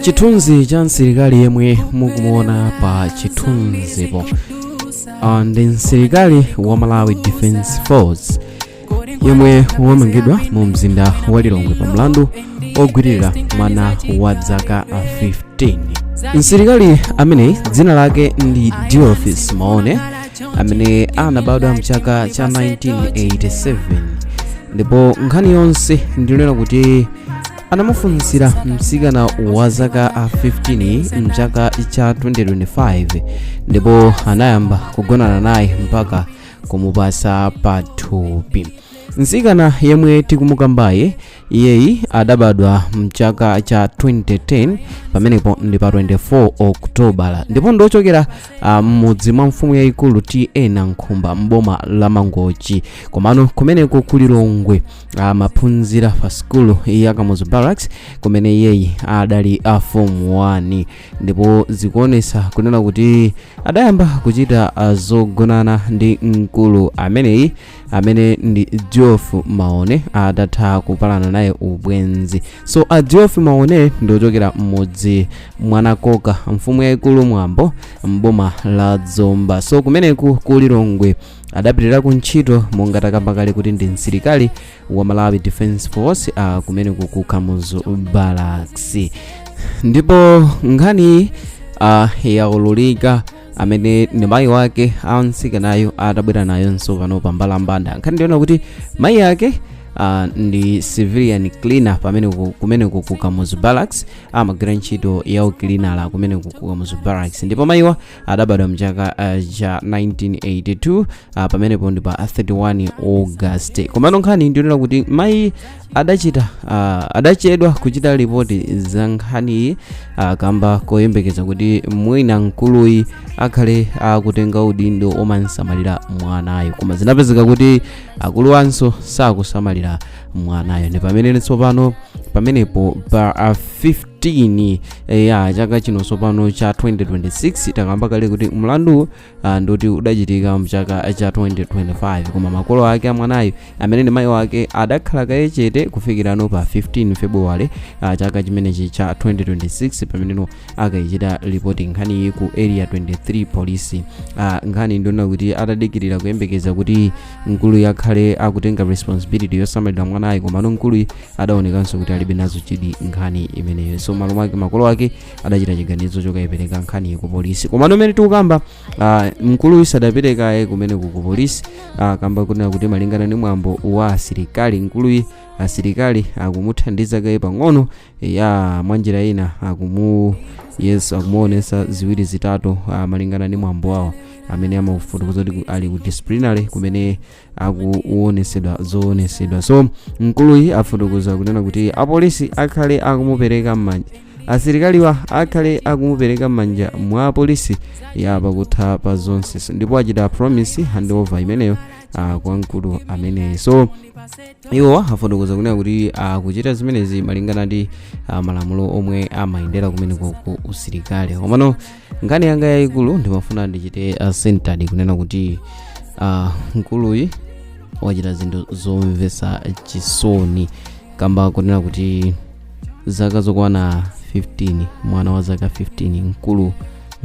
chithunzi cha msilikali yemwe mukumuona pa chithunzipo Ah, ndi msilikali wa malawi defense force yemwe wamangidwa mu mzinda wa lilongwe pa mlandu ogwirira mwana wa dzaka 15 msilikali ameneyi dzina lake ndi diofis maone amene anabadwa mchaka cha 1987 ndipo nkhani yonse ndiyonena kuti anamufunsira mtsikana wa zaka a 15 mchaka cha 2025 ndipo anayamba kugonana naye mpaka kumupasa pathupi mtsikana yemwe tikumukambayi iyeyi adabadwa mchaka cha 2010 pamenepo ndi pa 24 okutobala ndipo ndi wochokera ah, m'mudzi mwa mfumu yayikulu ta nankhumba m'boma la mangochi komano kumeneko ku lilongwe amaphunzira pa sikulu ya kamuzu barracks kumene iyeyi adali a form 1 ndipo zikuonesa kunena kuti adayamba kuchita ah, zogonana ndi mkulu ameneyi amene ndi diof maone adatha kupalana naye ubwenzi so a diof maone ndi wochokera m'mudzi mwa nakoka mfumu yayikulu mwambo mboma la zomba so kumeneku ku lilongwe adapitira ku ntchito monga takamba kale kuti ndi msilikali wa malawi defense force uh, kumeneku ku kamuzu barracks ndipo nkhani uh, yaululika amene ndi mayi wake a mtsikanayo atabwera nayo tsopano pa mbalambanda nkhani ndiyonena kuti mayi ake uh, ndi civilian cleaner pamene kumeneko ku kamuzu barracks amagwira ntchito ya ukilinala kumeneko ku kamuzu barracks ndipo mayiwa adabadwa mchaka uh, cha 1982 uh, pamenepo ndi pa 31 august komano nkhani ndiyonena kuti mayi adachita ah, adachedwa kuchita ripoti za nkhaniyi ah, kamba koyembekeza kuti mwina mkuluyi akhale akutenga udindo omansamalira mwanayo koma zinapezeka kuti akuluwanso sakusamalira mwanayo ndi pamene tsopano pamenepo pa 15 ya chaka chino tsopano cha 2026 takamba kale kuti mlandu ah, ndoti udachitika mchaka cha 2025 koma makolo ake a mwanayi amene ndi mayi wake adakhala kaye chete kufikira no pa 15 february ah, chaka chimenechi cha 2026 pamene no akayichita lipoti nkhaniyi ku area 23 polisi ah, nkhani ndiyonena kuti adadikirira kuyembekeza kuti mkuluyi akhale akutenga responsibility yosamalira mwanayi komano mkuluyi adaonekanso kuti alibe nazo chidwi nkhani imeneyo so malo mwake makolo ake adachita chiganizo chokayipereka nkhani ku polisi komano mmene tikukamba ah, mkuluyu sadaperekedwe kaye kumene ku polisi ah, kamba kunena kuti malingana ndi mwambo wa asilikali mkuluyu asilikali akumuthandiza kaye pang'ono ya mwanjira ina akumu yes akumuonesa ziwiri zitatu ah, malingana ndi mwambo wawo amene amafotokoza kuti ku- ali ku disciplinary kumene akuwonesedwa zowonesedwa so mkuluyi afotokoza kunena kuti apolisi akhale akumupereka m'manja asilikaliwa akhale akumupereka m'manja mwa apolisi ya pakutha pa zonse So, ndipo achita promise handover imeneyo ah, kwa mkulu ameneyi so iwo afotokoza kunena kuti akuchita zimenezi malingana ndi ah, malamulo omwe amayendera kumeneko ku usilikali komano nkhani yanga yayikulu ndimafuna ndichite uh, center kunena kuti uh, mkuluyi wachita zinthu zomvetsa chisoni kamba kunena kuti zaka zokwana 15 mwana wa zaka 15 mkulu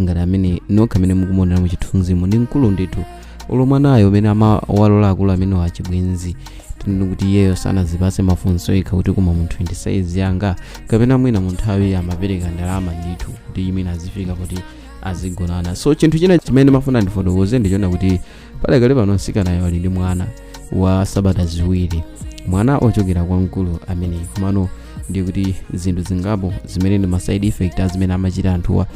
ngati ameneyu nokha amene mukumuonera mu chithunzimu ndi mkulu ndithu olo mwanayo mmene amawalola akulu amenewa achibwenzi tinene kuti iyeyo sanazipase mafunso yekha kuti koma munthuyu ndi saizi yanga kapena mwina mu nthawi amapereka ndalama ndithu kuti imene azifika kuti azigonana so chinthu china chimene ndimafuna ndifotokoze ndi chonena kuti padakali pano msikanayo ali ndi mwana wa sabata ziwiri mwana ochokera kwa mkulu ameneyi komano ndiye kuti zinthu zingapo zimene ndi ma side effect a zimene amachita anthuwa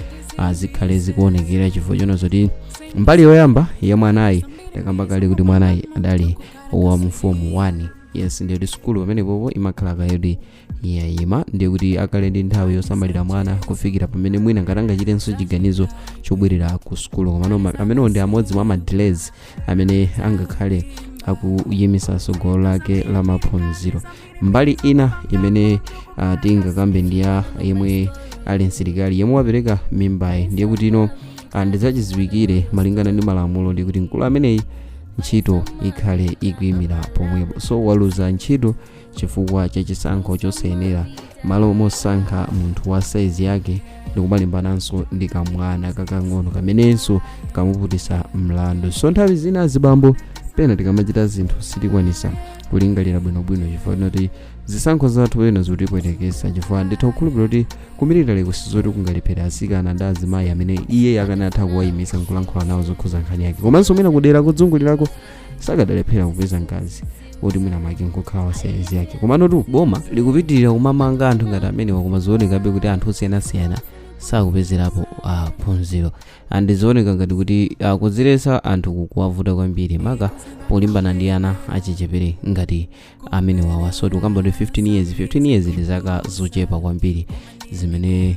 zikhale zikuonekera chifukwa chonena zoti mbali yoyamba ya mwanayi takamba kale kuti mwanayi adali wa mu fomu 1 yes ndiye kuti sukulu pamenepopo imakhala kaye kuti yayima ndiye kuti akhale ndi nthawi yosamalira mwana kufikira pamene mwina ngati angachitenso chiganizo chobwerera ku sukulu komano ma- amenewo ndi amodzi mwa madelays amene angakhale akuyimisa tsogolo lake la maphunziro mbali ina imene uh, tingakambe ndi ya yemwe ali msilikali yemwe wapereka mimbayi ndiye kuti ino uh, ndi zachidziwikire malingana ndi malamulo ndi kuti mkulu ameneyi ntchito ikhale ikuyimira pomwepo so waluza ntchito chifukwa cha chisankho chosayenera malo mosankha munthu wa saizi yake ndikumalimbananso ndi kamwana kakang'ono kamenenso kamuputitsa mlandu so nthawi zina azibambo pena tikamachita zinthu sitikwanisa kulingalira bwinobwino chifukwa choti zisankho zathu zina zikutipwetekesa chifukwa nditha kukhulupirira kuti kumilitali uko sizoti kungalephere asikana ndi azimayi amene iye akanatha kuwayimisa nkulankhula nawo zokhuza nkhani yake komanso mwina kudera kozungulirako sakadalephera kupeza mkazi oti mwina mwake nkukhala wa saizi yake komano tu boma likupitirira kumamanga anthu ngati amenewa koma zikuonekabe kuti anthu osiyanasiyana sakupezerapo ah, phunziro and zikuoneka ngati kuti kudziletsa anthu kukuwavuta kwambiri maka polimbana ndi ana achichepere ngati amenewa so tikukamba ndi 15 years 15 years ndi zaka zochepa kwambiri zimene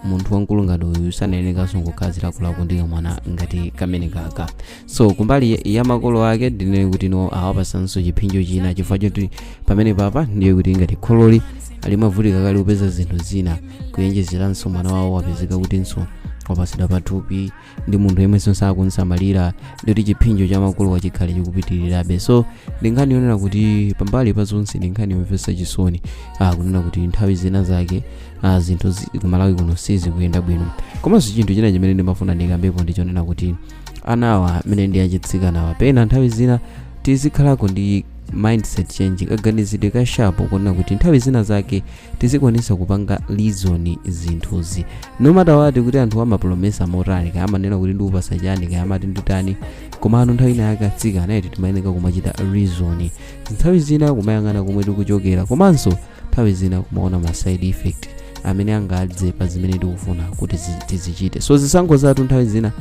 munthu wamkulu ngati uyu sanayenekanso kukhala zilakolako ndi kamwana ngati kamene kaka so kumbali ya makolo ake ndinene kuti no awapasanso chiphinjo china chifukwa choti pamene papa ndiye kuti ngati khololi limavutika kale kupeza zinthu zina kuyenjezeranso mwana wawo wapezeka kutinso wapasidwa pathupi ndi munthu yemwenso sakunsamalira ndikuti chiphinjo cha makolo wa chikhale chikupitirirabe so ndi nkhani yonena kuti pambali pa zonse ndi nkhani yomvetsa chisoni ah, kunena kuti nthawi zina zake ah, zinthu zi- kumalawi kuno sizikuyenda bwino komanso chinthu china chimene ndimafuna ndikambepo ndichonena kuti anawa amene ndi achitsikanawa pena nthawi zina tizikhalako ndi mindset change kaganizidwe ka sharp kuona kuti nthawi zina zake tizikwanisa kupanga reason zinthuzi no matter what kuti anthu amapolomesa motani kaya amanena kuti ndikupasa chani kaya amati nditani komano nthawi ina yake atsikana eti timayeneka kumachita reason nthawi zina kumayang'ana komwe tikuchokera komanso nthawi zina kumaona ma side effect amene angadze pa zimene tikufuna kuti zi- tizichite so zisankho zathu nthawi zina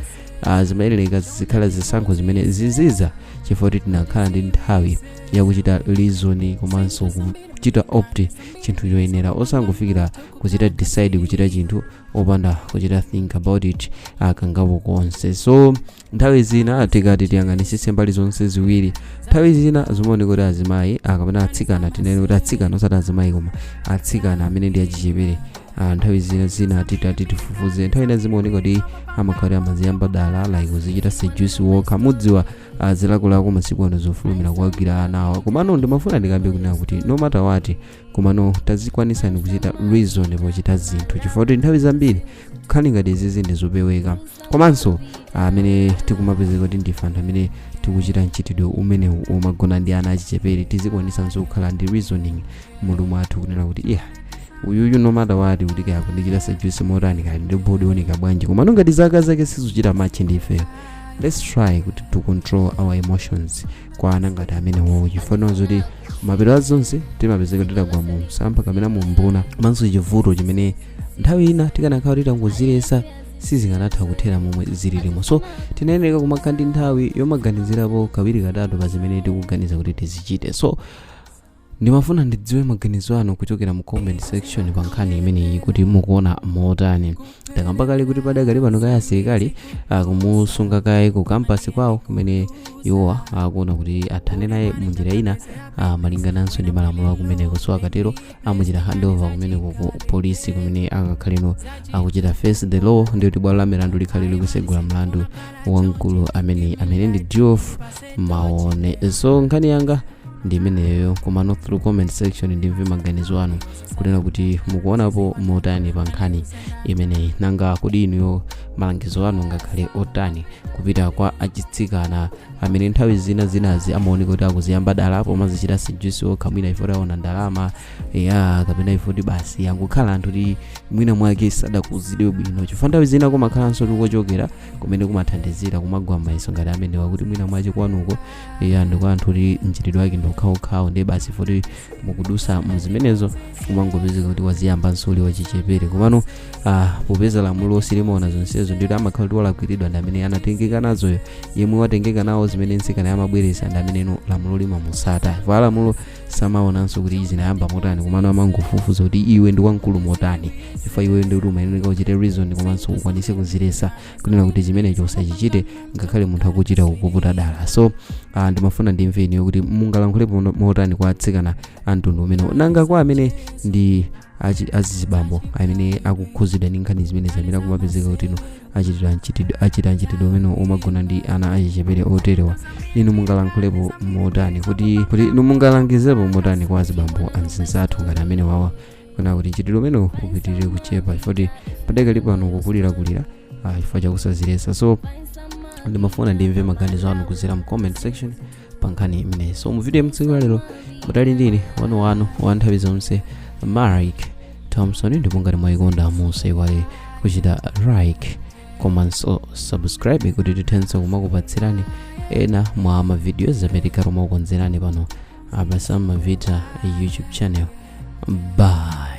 uh, zimayenereka zizikhala zisankho zimene zizidza chifukwa kuti tinakhala ndi nthawi yakuchita reason komanso kuchita opt chinthu choyenera osangofikira kuchita decide kuchita chinthu opanda kuchita think about it kangapo konse so nthawi zina tikati tiyang'anisise mbali zonse ziwiri nthawi zina zimaoneka kuti azimayi kapena atsikana tinene kuti atsikana osati azimayi koma atsikana amene ndi achichepere Ah, nthawi zina zina titati tifufuze nthawi ina zimaoneka kuti amakhala amaziyamba dala like kuzichita seduce wokha mudziwa ah, zilakolako masiku ano zofulumira kuwagwira anawa komano ndimafuna ndikambe kunena kuti no matter what komano tazikwanisani kuchita reason pochita zinthu chifukwa kuti nthawi zambiri nkhani ngati izizi ndizopeweka komanso amene tikumapezeka kuti ndife anthu amene tikuchita mchitidwe umenewu omagona ndi ana achichepere tizikwanisanso kukhala ndi reasoning mmutu mwathu kunena kuti iya uyuyu no matter what kuti kaya kundichita seduce motani kaya ndi body yooneka bwanji komano ngati zaka zake sizuchita match ndi ifeyo let's try kuti to control our emotions kwa ana ngati amenewowo chifukwa zoti mapeto a zonse timapezeka titagwa mu msampha kapena mu mbuna komanso chivuto chimene nthawi ina tikanakhala titangodziletsa sizikanatha kuthera momwe zililimo so timayenereka kumakhala ndi nthawi yomaganizirapo kawiri katatu pa zimene tikuganiza kuti tizichite so ndimafuna ndidziwe maganizo anu kuchokera mu comment section pa nkhani imeneyi kuti mukuona motani takamba kale kuti padakali pano kaye asilikali akumusunga kaye ku campus kwawo kumene iwowa akuona kuti athane naye mu njira ina ah, malingananso ndi malamulo akumeneko so akatero amuchita handover kumeneko ku polisi kumene akakhaleno akuchita face the law ndi kuti bwalo la milandu likhale likusegula mlandu wa mkulu ameneyi amene ndi Geoff maone so nkhani yanga ndi imeneyo komano through comment section ndimve maganizo anu kunena kuti mukuonapo motani pa nkhani imeneyi nanga kodi inuyo malangizo anu ngakhale otani kupita kwa achitsikana amene nthawi zina zinazi amaoneka kuti akuziyamba dala apo amazichita seduce okha mwina chifukwa choti aona ndalama ya kapena chifukwa choti basi angokhala anthu oti mwina mwake sadakuzidwe bwino chifukwa nthawi zina kumakhalanso tikuchokera kumene kumathandizira kumagwa m'mayeso ngati amenewa kuti mwina mwache kwanuko ndi kwa anthu oti mchitidwe wake ndi okhaokhawo ndiye basi poti mukudusa mu zimenezo kumangopezeka kuti waziyambanso uli wachichepere komano ah, popeza lamulo silimaona zonsezo ndikuti amakhala kuti walakwiridwa ndi amene anatengeka nazoyo yemwe watengeka nawo zimene nsikanayo amabweresa ndi ameneno lamulo limamusata chifukwa lamulo samaonanso kuti izi zinayamba motani komano amangofufuza kuti iwe ndi wamkulu motani chifukwa iweyo ndi kuti umayeneka uchite reason komanso ukwanise kuzilesa kunena kuti chimenecho usachichite ngakhale munthu akuchita kukuputa dala so ah, ndimafuna ndimve inuyo kuti mungalankhulepo mo- motani kwa atsikana a mtundu umenewo nanga kwa amene ndi achi- azizibambo amene akukhuzidwa ndi nkhani zimenezi amene akumapezeka kuti ino achitidwa mchitidwe achita mchitidwe umenewu omagona ndi ana achichepere oterewa inu mungalankhulepo motani kuti kuti inu mungalangizepo motani kwa azibambo anzinzathu ngati amenewawa kunena kuti mchitidwe umenewu upitirire kuchepa chifukwa choti padakali pano ukukulirakulira ah, chifukwa chakusazilesa so ndimafuna ndimve maganizo anu kuzera mu comment section pa nkhani imeneyi so mu video ya tsiku lalero mudali ndi ine wanu wanu wa nthawi zonse Mark thompson ndipo ngati mwayikonda musaiwale kuchita like komanso subscribe kuti tithenso kumakupatsirani ena mwa mavideos amene tikhala tikumakukonzerani pano apa samavita youtube channel bye